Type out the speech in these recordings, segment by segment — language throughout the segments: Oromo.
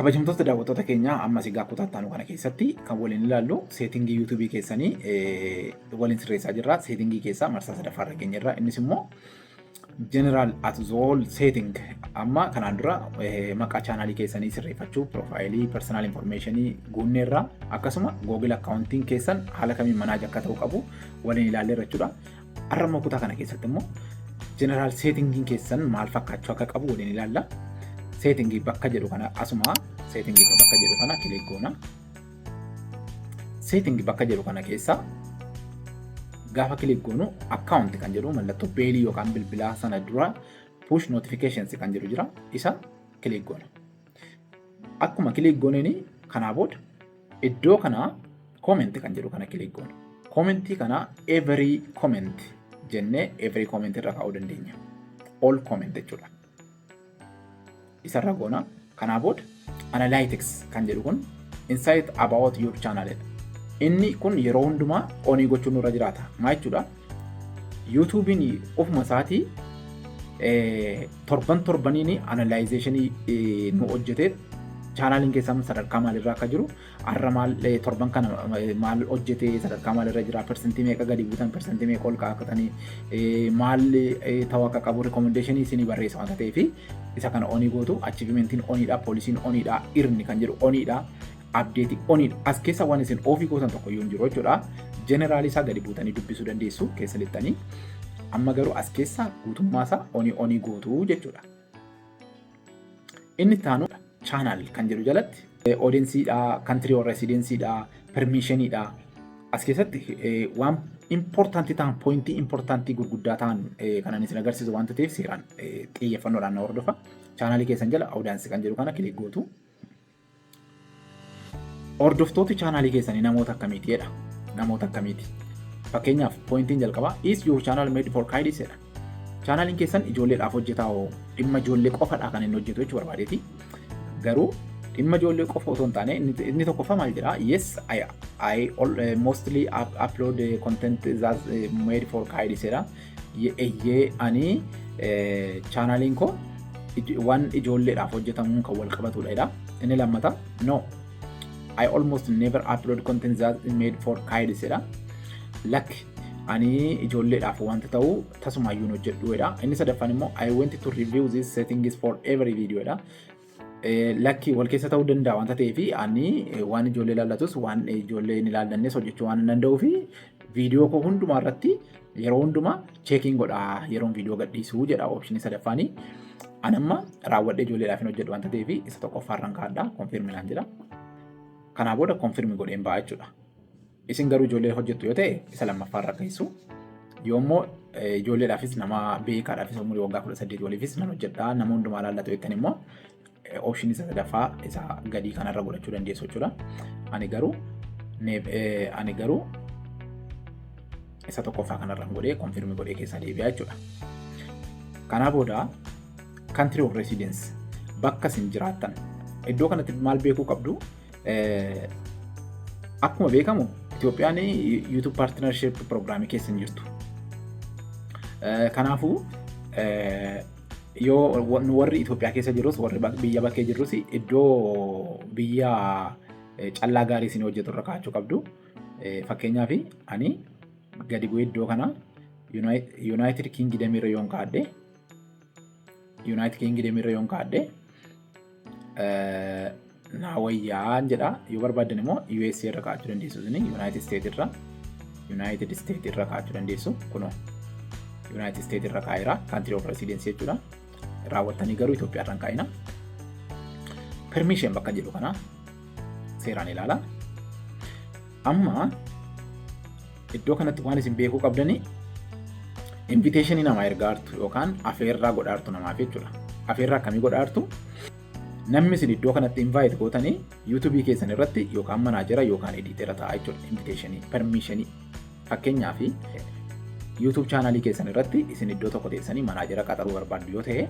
Kabajamtoota daawwattoota keenyaa ammas egaa kutaa itti aanu kana keessatti kan waliin ilaallu seetingii yuutuubii keessanii waliin sirreessaa jirra. Seetingii keessaa marsaa sadaffaa irra keenya irra innis immoo general at the whole setting amma kanaan dura maqaa chaanaalii keessanii sirreeffachuu piroofaayilii personal informationii guunnee irraa akkasuma google accounting keessan haala kamiin manaaja akka ta'u qabu waliin ilaallee irra jechuudha. Har'a immoo kutaa kana keessatti immoo jeneraal seetingiin keessan maal fakkaachuu akka qabu waliin ilaalla. Seetingii bakka jedhu kana asuma seetingii bakka jedhu kana kilik goona. Seetingii bakka jedhu kana keessa gaafa kilik goonu akkaawunti kan jedhu mallattoo beelii yookaan bilbilaa sana dura push notifications kan jedhu jira isa kilik goona. Akkuma kiliik gooneen kanaa booda iddoo kana koomenti kan jedhu kana kiliik goona. Koomentii kana every comment jennee every comment irra kaa'uu dandeenya. All comment jechuudha. Isarra goona. Kanaa booda analytics kan jedhu kun insight about your channel jedha. Inni kun yeroo hundumaa onii gochuun nurra jiraata. Maa jechuudha? yuutuubiin ofuma isaatii torban torbaniin analaayizeeshinii nu hojjetee chaanaaliin keessan sadarkaa maalirraa akka jiru har'a maal torban kana maal hojjetee sadarkaa maalirra jira persentii meeqa gadi buutan persentii meeqa ol kaa'atanii maal ta'uu akka qabu rikomendeeshinii isinii barreessa wanta ta'eef isa kana onii gootu achiivimentiin oniidha poolisiin oniidha irni kan jedhu oniidha abdeeti oniidha. As keessa waan isin ofii gootan tokko iyyuu hin jiru jechuudha. Jeneraalii isaa gadi buutanii dubbisuu dandeessu keessa lixxanii. Amma garuu as keessa guutummaa isaa onii onii gootu jechuudha. Inni taanu chaanaal kan jedhu jalatti odensiidha, kantirii warra residensiidha, permiishiniidha. As keessatti waan impoortaantii ta'an pooyintii impoortaantii gurguddaa ta'an kanan isin agarsiisu waanta ta'eef seeraan xiyyeeffannoodhaan na hordofa. Chaanaalii keessan jala odaansi kan jedhu kana kilik gootu. Hordoftooti chaanaalii keessanii namoota akkamiiti jedha. Namoota akkamiiti. Fakkeenyaaf poointiin jalqabaa is your channel made for kids jedha. Chaanaaliin keessan ijoolleedhaaf hojjetaa hoo dhimma ijoollee qofadhaa kan inni hojjetu jechuu barbaadeeti. Garuu dhimma ijoollee qofa otoo hin taane inni tokkoffaa maal jedha yes I, I all, uh, mostly up, upload content that uh, made for kids jedha. Eyyee ani chaanaaliin koo waan ijoolleedhaaf hojjetamuun kan wal qabatudha jedha. Inni lammata no I almost never upload content that is made for kids jedha. Lakk ani ijoolleedhaaf wanta ta'u tasumaayyuun hojjedhu jedha. Inni sadaffaan immoo I went to review these settings for every video jedha. Lakki wal keessa ta'uu danda'a wanta ta'eef ani waan ijoollee ilaallatus waan ijoollee hin ilaallannes hojjechuu waan hin danda'uu fi viidiyoo koo hundumaa irratti yeroo hundumaa cheekiin godha yeroon viidiyoo gadhiisuu jedha oopshinii sadaffaanii. An amma raawwadhee ijoolleedhaaf hin hojjedhu wanta ta'eef isa tokkoffaa irraan kaadha konfirmi naan jedha. Kanaa booda konfirmi godheen ba'a jechuudha. Isin garuu ijoollee hojjettu yoo ta'e isa lammaffaa irra keessu. Yoo immoo ijoolleedhaafis nama beekaadhaafis umurii waggaa kudha saddeet waliifis nan hojjedha nama hundumaa laallatu jettan immoo option isa sadaffaa isa gadii kanarra godhachuu dandeessu jechuudha. Ani garuu ani garuu isa tokkoffaa kanarra godhee konfirmi godhee keessaa deebi'aa jechuudha. Kanaa booda country of residence bakka isin jiraattan iddoo kanatti maal beekuu qabdu Akkuma beekamu Itoophiyaan YouTube Partnership Program keessa hin jirtu. Kanaafuu yoo warri Itoophiyaa keessa jirus warri biyya bakkee jirus iddoo biyya callaa gaarii isin hojjetu irra kaa'achuu qabdu. Fakkeenyaaf ani gadi bu'ee iddoo kana Yuunaayitid Kiingidamii irra yoon kaa'adhe Yuunaayitid Kiingidem irra yoon kaadhe naa wayyaa jedha yoo barbaaddan immoo US irra kaachuu dandeessu isin Yuunaayitid Isteet irra Yuunaayitid Isteet irra kaachuu dandeessu kunoo Yuunaayitid Isteet irra kaa'eera kaantirii of resiidensii jechuudha raawwattanii garuu Itoophiyaa irra hin kaa'ina permiishin bakka jedhu kana seeraan ilaala. Amma iddoo kanatti waan isin beekuu qabdanii inviteeshinii namaa ergaa jirtu yookaan afeerraa godhaa jirtu namaaf jechuudha. Afeerraa akkamii godhaa jirtu? Namni isin iddoo kanatti invite gootanii yuutuubii keessan irratti yookaan manaajera yookaan ediitera ta'a jechuudha. Inviteeshinii, permiishinii. Fakkeenyaaf yuutuub chaanaalii keessan irratti isin iddoo tokko teessanii manaajera qaxaruu barbaaddu yoo ta'e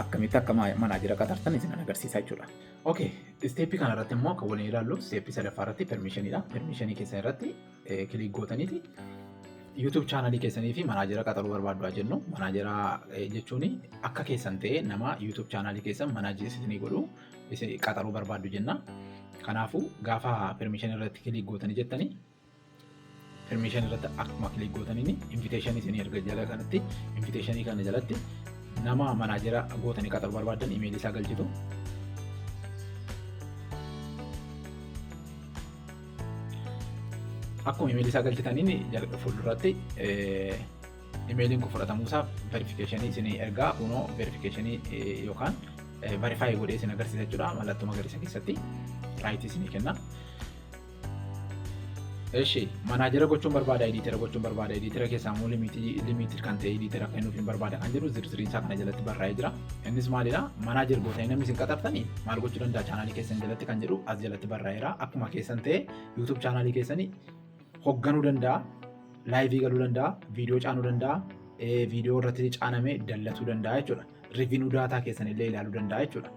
akkamitti akka manaajera qaxartan isin agarsiisa jechuudha. Ok, isteeppii kana irratti immoo kan waliin ilaallu isteeppii sadaffaa irratti permiishiniidha. Permiishinii keessan irratti kiliik gootaniiti YouTube chaanalii keessanii fi manaajera qaxaruu barbaaddu jennu. Manaajera jechuun akka keessan ta'ee nama YouTube chaanalii keessan manaajii isinii godhu qaxaruu barbaaddu jenna. Kanaafuu gaafa permiishinii irratti kiliik gootanii jettanii permission irratti akkuma kilik gootaniin invitation isinii erga jala kanatti invitation kana jalatti nama manaajera gootanii qaxaru barbaadan imeeli isaa galchitu. Akkuma imeeli isaa galchitaniin fuulduratti imeeliin kun fudhatamuusaaf verifikeeshinii isinii ergaa kunoo verifikeeshinii yookaan verifaayi godhee isin agarsiisa jechuudha mallattoo magariisa keessatti raayitii isinii kenna. Eshi, manaajera gochuun barbaada, ediitera gochuun barbaada, ediitera keessaa immoo limiitii limiitii kan ta'e ediitera kennuuf hin barbaada kan jedhu zirziriin isaa kana jalatti barraa'ee jira. Innis maalidha? Manaajer gootanii namni isin qaxartanii maal gochuu danda'a chaanaalii keessan jalatti kan jedhu as jalatti barraa'eera. Akkuma keessan ta'e YouTube chaanaalii keessanii hogganuu danda'a, laayivii galuu danda'a, viidiyoo caanuu danda'a, viidiyoo irratti caanamee dallatuu danda'a jechuudha. Rivinuu daataa keessan illee ilaaluu danda'a jechuudha.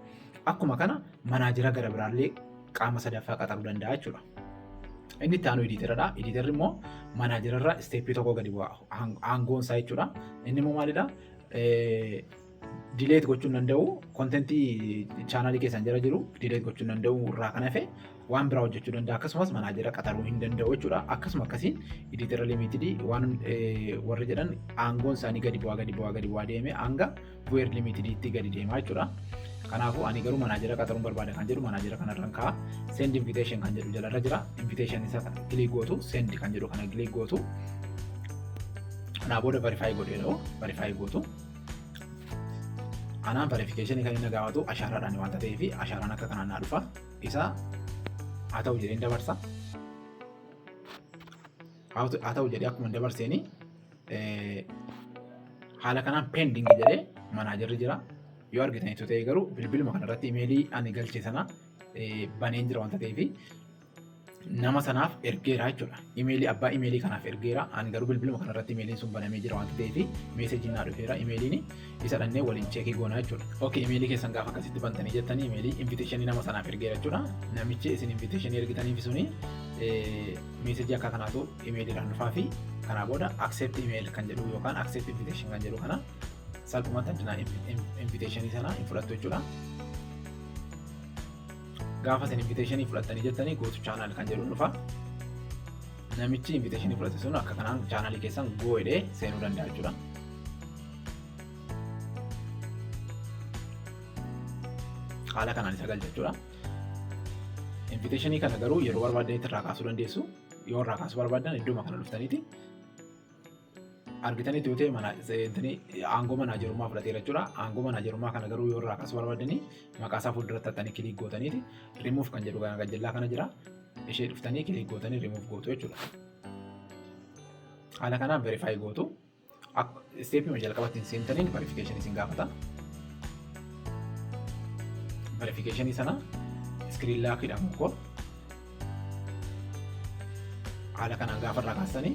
Akkuma kana manaajera gara biraallee qaama sadaffaa qaxaruu danda'a jechuudha. Inni itti aanu editeradha. Editerri immoo manaajerarra isteeppii tokko gadi bu'a. Aangoon isaa jechuudha. Inni immoo maalidha? Dileet gochuu hin danda'u. Kontentii chaanaalii keessan jala jiru dileet gochuu hin danda'u irraa kan hafe waan biraa hojjechuu danda'a. Akkasumas manaajera qaxaruu hin danda'u jechuudha. Akkasuma akkasiin editera limitidii waan warri jedhan aangoon isaanii gadi bu'aa gadi bu'aa gadi bu'aa deemee hanga Bu'eer limitediitti gadi deemaa jechuudha. Kanaafuu ani garuu manaajera qaxaruun barbaada kan jedhu manaajera kanarraan ka'a. Send invitation kan jedhu jalarra jira. Invitation isa kilik gootu send kan jedhu kana kilik gootu. Kanaa booda verify godhee dha'u verify gootu. Anaan verification kan inni gaafatu ashaaraadhaan waan ta'eef ashaaraan akka kanaan naa dhufa. Isa haa ta'u jedheen dabarsa. Haa ta'u jedhee akkuma dabarseenii haala kanaan pending jedhee manaajarri jira. Yoo argitan itti ta'e garuu bilbiluma kanarratti imeelii ani galche sana baneen jira wanta ta'eef nama sanaaf ergeera jechuudha. Imeelii abbaa imeelii kanaaf ergeera. Ani garuu bilbiluma kanarratti imeeliin sun banamee jira wanta ta'eef meeseejiin naa dhufeera imeeliin isa dhannee waliin cheekii goona jechuudha. Ok imeelii keessan gaafa akkasitti bantanii jettanii imeelii inviteeshinii nama sanaaf ergeera jechuudha. Namichi isin inviteeshinii ergitaniif suni meeseejii akka kanaatu imeeliidhaan dhufaa fi kanaa booda accept email kan jedhu yookaan accept invitation kan jedhu kana salphumatti addunaa inviteeshinii sana hin fudhattu jechuudha. Gaafa isin inviteeshinii fudhattanii jettanii gootu chaanaal kan jedhu dhufa. Namichi inviteeshinii fudhate sun akka kanaan chaanaalii keessan goo'edhee seenuu danda'a jechuudha. Haala kanaan isa galcha jechuudha. Inviteeshinii kana garuu yeroo barbaadanitti irraa kaasuu dandeessu. Yoo irraa kaasuu barbaadan iddooma kana dhuftaniiti argitanii tuutee mana seentanii aangoo manaajerummaa fudhateera jechuudha. Aangoo manaajerummaa kana garuu yoo irraa kaasuu barbaadanii maqaa isaa fuulduratti hattanii kiliik gootaniiti rimuuf kan jedhu kan gajjallaa kana jira. Ishee dhuftanii kiliik gootanii rimuuf gootu jechuudha. Haala kanaan verifaayi gootu. Isteepii hojii jalqabatti hin seentaniin verifikeeshinii isin gaafata. Verifikeeshinii sana iskiriin laakiidhaan mukkoo haala kanaan gaafa irraa kaasanii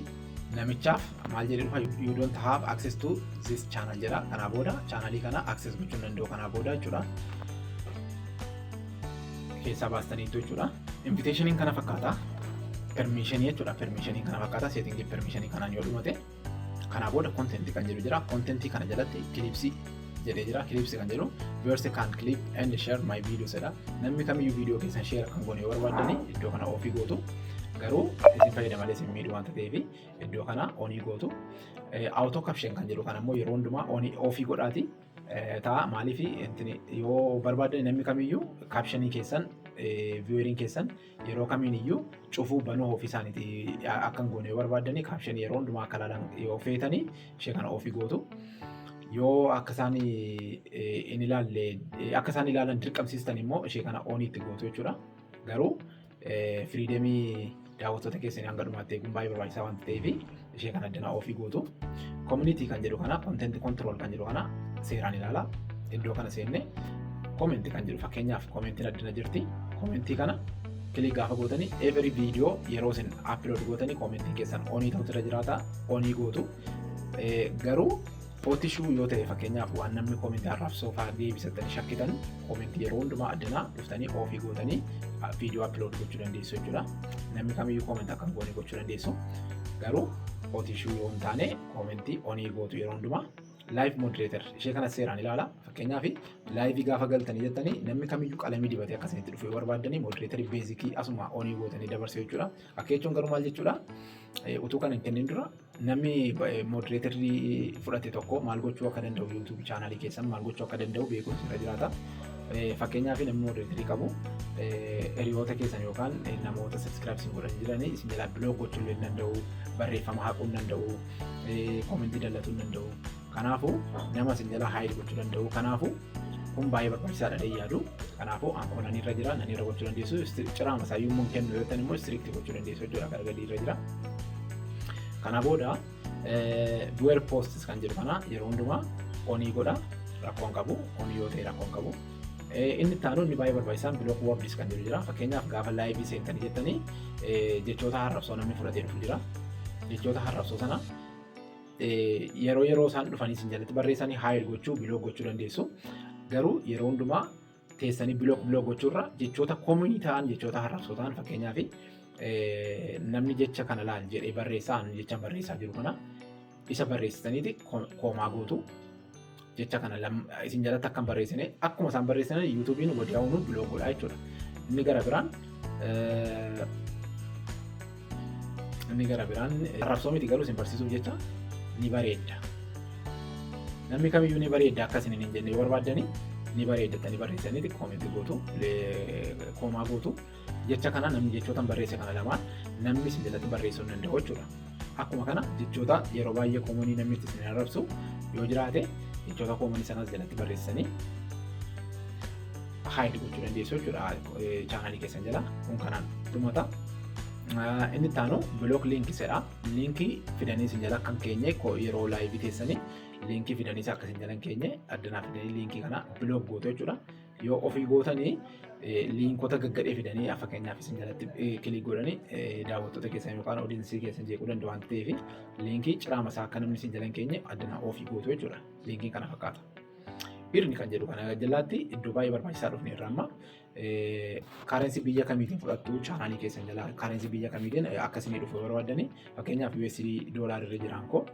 namichaaf maal jedhee dhufa you don't have access to this channel jedha kanaa booda chaanalii kana access gochuu hin danda'u kanaa booda jechuudha keessaa baastaniitu jechuudha inviteeshiniin kana fakkaata permiishinii jechuudha permiishinii kana fakkaata seetingii permiishinii kanaan yoo dhumate Kanaa booda content kan jedhu jira. Content kana jalatti clips jedhee jira. Clips kan jedhu verse can clip and share my videos jedha. Namni kamiyyuu viidiyoo keessan share kan goone yoo barbaadani iddoo kana ofii gootu. Garuu isin fayyada malee isin miidhu waan ta'eef iddoo kana onii gootu. Auto caption kan jedhu kan ammoo yeroo hundumaa onii ofii godhaati. Ta'a maaliif yoo barbaadani namni kamiyyuu captionii keessan vieweriin keessan yeroo kamiin iyyuu cufuu banuu ofii isaaniiti akka hin goone yoo barbaadanii kaapshan yeroo hundumaa akka ilaalan yoo feetanii ishee kana ofii gootu. Yoo akka isaan hin ilaalle akka isaan ilaalan dirqamsiistan immoo ishee kana ooniitti gootu jechuudha. Garuu firiidemii daawwattoota keessanii hanga dhumaatti eeguun baay'ee barbaachisaa waan ta'eef ishee kana addanaa ofii gootu community kan jedhu kana content control kan jedhu kana seeraan ilaala iddoo kana seenne comment kan jedhu fakkeenyaaf commentiin addana jirti commentii kana kilik gaafa gootanii every video yeroo isin upload gootanii commentii keessan onii ta'utu irra jiraata onii gootu garuu Footishuu yoo ta'e fakkeenyaaf waan namni koomentii arrabsoo fa'aa deebisattanii shakkitan koomentii yeroo hundumaa addanaa dhuftanii oofii gootanii viidiyoo appilood gochuu dandeessu jechuudha. Namni kamiyyuu koomentii akka hin goone gochuu dandeessu. Garuu footishuu yoo hin taane koomentii onii gootu yeroo hundumaa laayiv moodireetar ishee kana seeraan ilaala. Fakkeenyaaf laayivii gaafa galtanii jettanii namni kamiyyuu qalamii dibatee akka isinitti dhufu yoo barbaaddanii moodireetarii beezikii asuma onii gootanii dabarsee jechuudha. Akka jechuun garuu maal jechuudha? Utuu kana hin kennin dura Namni moderatorri fudhate tokko maal gochuu akka danda'u YouTube channel keessan maal gochuu akka danda'u beekuun sirra jiraata. Fakkeenyaaf namni moderatorri qabu hiriyoota keessan yookaan namoota subscribe isin godhan jiran isin jalaa block gochuu illee hin danda'u, barreeffama haquu hin danda'u, comment dallatu hin danda'u. Kanaafu nama isin jala haayil gochuu danda'u kanaafu kun baay'ee barbaachisaadha dee yaadu kanaafu akkuma nani irra jira nani irra gochuu dandeessu ciraa masaayyuu immoo kennu yoo ta'an immoo istiriikti gochuu dandeessu jechuudha gara gadii irra jira kana booda duwer poostis kan jedhu kana yeroo hundumaa onii godha rakkoon qabu onii yoo ta'e rakkoon qabu inni taanu inni baay'ee barbaachisaan bilook wordis kan jedhu jira fakkeenyaaf gaafa laayivii seentanii jettanii jechoota harrabsoo namni fudhatee dhufu jira jechoota harrabsoo sana Yeroo yeroo isaan dhufanii isin jalatti barreessanii haayir gochuu biloog gochuu dandeessu. Garuu yeroo hundumaa teessanii biloog biloog gochuurra jechoota kominii ta'an jechoota harrabsoo ta'an fakkeenyaaf namni jecha kana laal jedhee barreessaa jecha barreessaa jiru kana isa barreessitaniiti koomaa gootu. jecha kana lam- isin jalatti akka hin barreessine akkuma isaan barreessine yuutuubiin wadiyaa'uun bilook godha jechuudha. Inni gara biraan eh, inni gara biraan eh, arrabsoo miti garuu isin barsiisuuf jecha ni bareedda. Namni kamiyyuu ni bareedda akka isin hin jenne yoo barbaaddani ni bareedda tani barreessanii koomeetii gootu le- koomaa gootu. Jecha kana namni jechootan barreesse kana lamaan namni sin jalatti barreessuu hin danda'u jechuudha. Akkuma kana jechoota yeroo baay'ee koomonii namni itti sin arrabsu yoo jiraate jechoota koomonii sanas jalatti barreessanii haayidi gochuu dandeessu jechuudha chaanaalii keessan jala kun kanaan dhumata. Inni itti aanu bilook liinkii jedha. Liinkii fidanii sin jala kan keenye yeroo laayivii teessanii liinkii fidanii akka sin jala hin keenye addanaa fidanii liinkii kana bilook gootu jechuudha. Yoo ofii gootanii liinkota gaggadhee fidanii yaa fakkeenyaaf isin jalatti kilik godhanii daawwattoota keessan yookaan odiinsii keessan jeequu danda'u waan ta'eef liinkii ciraama isaa akka namni isin jalan keenye addanaa ofii gootu jechuudha. Liinkii kana fakkaata. Birni kan jedhu kana jalaatti iddoo baay'ee barbaachisaa dhufne irra amma kaarensi biyya kamiitiin fudhattu chaanaalii keessan jala kaarensi biyya kamiitiin akkasii dhufu barbaadanii fakkeenyaaf USD doolaarri irra jiraan koo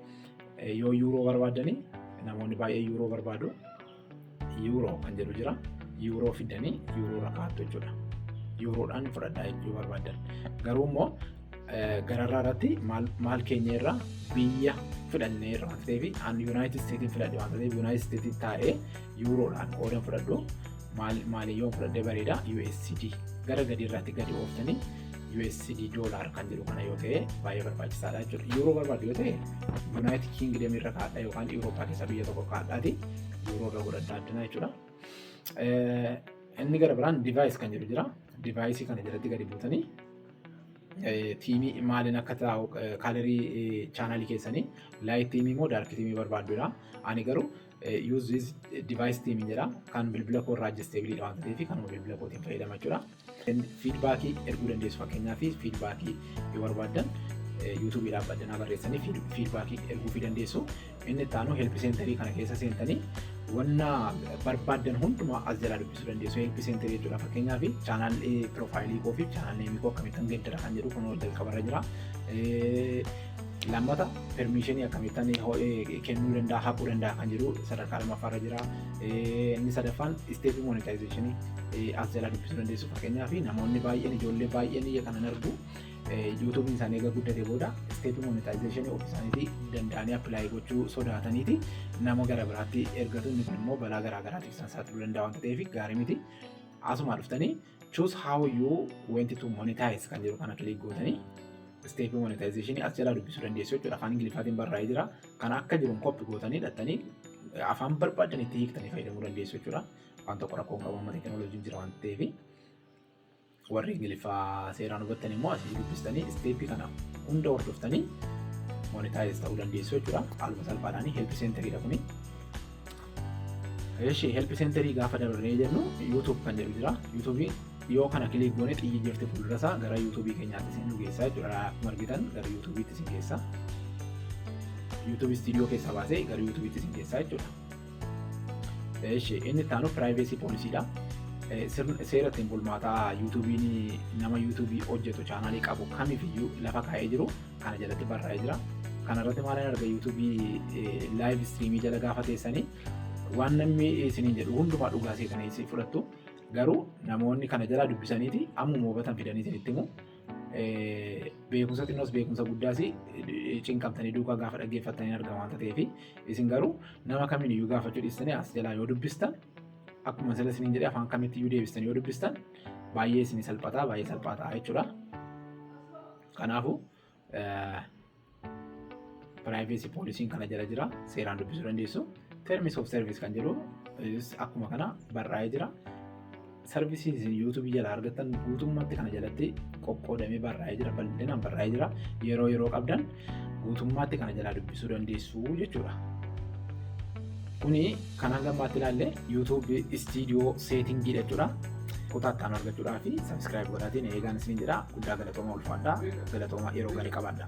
yoo yuuroo barbaadanii namoonni baay'ee yuuroo barbaadu. Yuuroo kan jedhu jira. Yuuroo fidanii yuuroo irra kaa'attu jechuudha. Yuuroodhaan fudhadhaa jechuu barbaadan. Garuu immoo gararraa irratti maal keenya irraa biyya fudhannee irraa waan ta'eef an Yuunaayitid Isteetiin fudhadhe waan ta'eef Yuunaayitid Isteetiin taa'ee yuuroodhaan qoodan fudhadhu maaliyyoo fudhadhee bareeda USD gara gadii irratti gadi ooftanii USD dollar kan jedhu kana yoo ta'e baay'ee barbaachisaadha jechuudha. Yuuroo barbaadu yoo ta'e Yuunaayitid Kiingidamii irra kaadha yookaan Yuurooppaa keessa biyya tokko kaadhaati yuuroo irra godhadhaa addana jechuudha. Inni gara biraan divaayis kan jedhu jira. Divaayisii kana jalatti gadi buutanii tiimii maaliin akka taa'u kaalarii chaanaalii keessanii laayit tiimii moo daarki tiimii barbaadudha. Ani garuu yuuzis divaayis tiimii jedha kan bilbila koo irraa ajjesteebiliidha waan ta'eef kanuma bilbila kootiin fayyadama jechuudha. Fiidbaakii erguu dandeessu fakkeenyaaf fiidbaakii yoo barbaaddan yuutuubii dhaabbaddanii barreessanii fiidbaakii erguufii dandeessu. Inni itti aanu helpi seentarii kana keessa seentanii wanna barbaaddan hundumaa as jalaa dubbisuu dandeessu. Helpi seentarii jechuudha fakkeenyaaf chaanaalli piroofaayilii koo fi chaanaalli neemii koo akkamittan geeddara kan jedhu kunoo jalqabarra jira. Lammata permiishinii akkamittan kennuu danda'a haquu danda'a kan jedhu sadarkaa lammaffaarra jira. Inni sadaffaan isteepii monetaayizeeshinii as jalaa dubbisuu dandeessu fakkeenyaaf namoonni baay'een ijoollee baay'een iyya kanan argu yuutuubiin isaanii egaa guddate booda isteepii monetaayizeeshinii ofii isaaniitii danda'anii appilaayii gochuu sodaataniiti nama gara biraatti ergatu inni kun immoo balaa garaa garaatiif isaan saaxiluu danda'a waan ta'eef gaarii miti. Asumaa dhuftanii choose how you want to monetize kan jedhu kana click gootanii step monetization as jalaa dubbisuu dandeessu jechuudha afaan ingiliffaatiin barraa'ee jira kana akka jiruun koppi gootanii dhattanii afaan barbaadan itti hiiktanii fayyadamuu dandeessu jechuudha waan tokko rakkoon qabu amma teekinooloojiin jira waan ta'eefi warri ingiliffaa seeraan hubattan immoo asii dubbistanii isteeppii kana hunda hordoftanii monetaayiz ta'uu dandeessu jechuudha haaluma salphaadhaan help seentariidha kuni Eshi help centerii gaafa dabarree jennu YouTube kan jedhu jira. YouTube yoo kana kiliik goone xiyyi jirti fuuldura isaa gara YouTube keenyaatti isin geessa jechuudha. Akkuma argitan gara YouTube itti isin geessa. YouTube studio keessa baasee gara YouTube itti isin geessa jechuudha. Eshi inni itti aanu privacy policy dha. Seera ittiin bulmaataa YouTube'n nama YouTube hojjetu chaanaalii qabu kamifiyyuu lafa kaa'ee jiru kana jalatti barraa'ee jira. Kana irratti maal hin arga YouTube live streamii jala gaafa teessanii waan namni isiniin jedhu hundumaa dhugaa seetanii isin fudhattu. Garuu namoonni kana jalaa dubbisaniiti ammuma hubatan fidanii isinitti himu. Beekumsa xinnoos beekumsa guddaas cinqamtanii duukaa gaafa dhaggeeffattanii argama waan ta'eef isin garuu nama kamiin iyyuu gaafachuu dhiistanii as jalaa yoo dubbistan akkuma sila isiniin jedhee afaan kamitti iyyuu deebistan yoo dubbistan baay'ee isin salphataa baay'ee salphaa ta'a jechuudha. Kanaafuu privacy policy kana jala jira seeraan dubbisuu dandeessu. Terms of service kan jedhu is akkuma kana barraa'ee jira. Sarvisii isin yuutuubii jala argattan guutummaatti kana jalatti qoqqoodamee barraa'ee jira bal'inaan barraa'ee jira yeroo yeroo qabdan guutummaatti kana jalaa dubbisuu dandeessu jechuudha. Kuni Kan hanga ammaatti ilaalle YouTube Studio Setting dha jechuudha. Kutaa itti aanu argachuudhaa fi subscribe godhaatiin eegaan isin jedha. Guddaa galatooma ulfaadhaa. Galatooma yeroo gaarii qabaadha.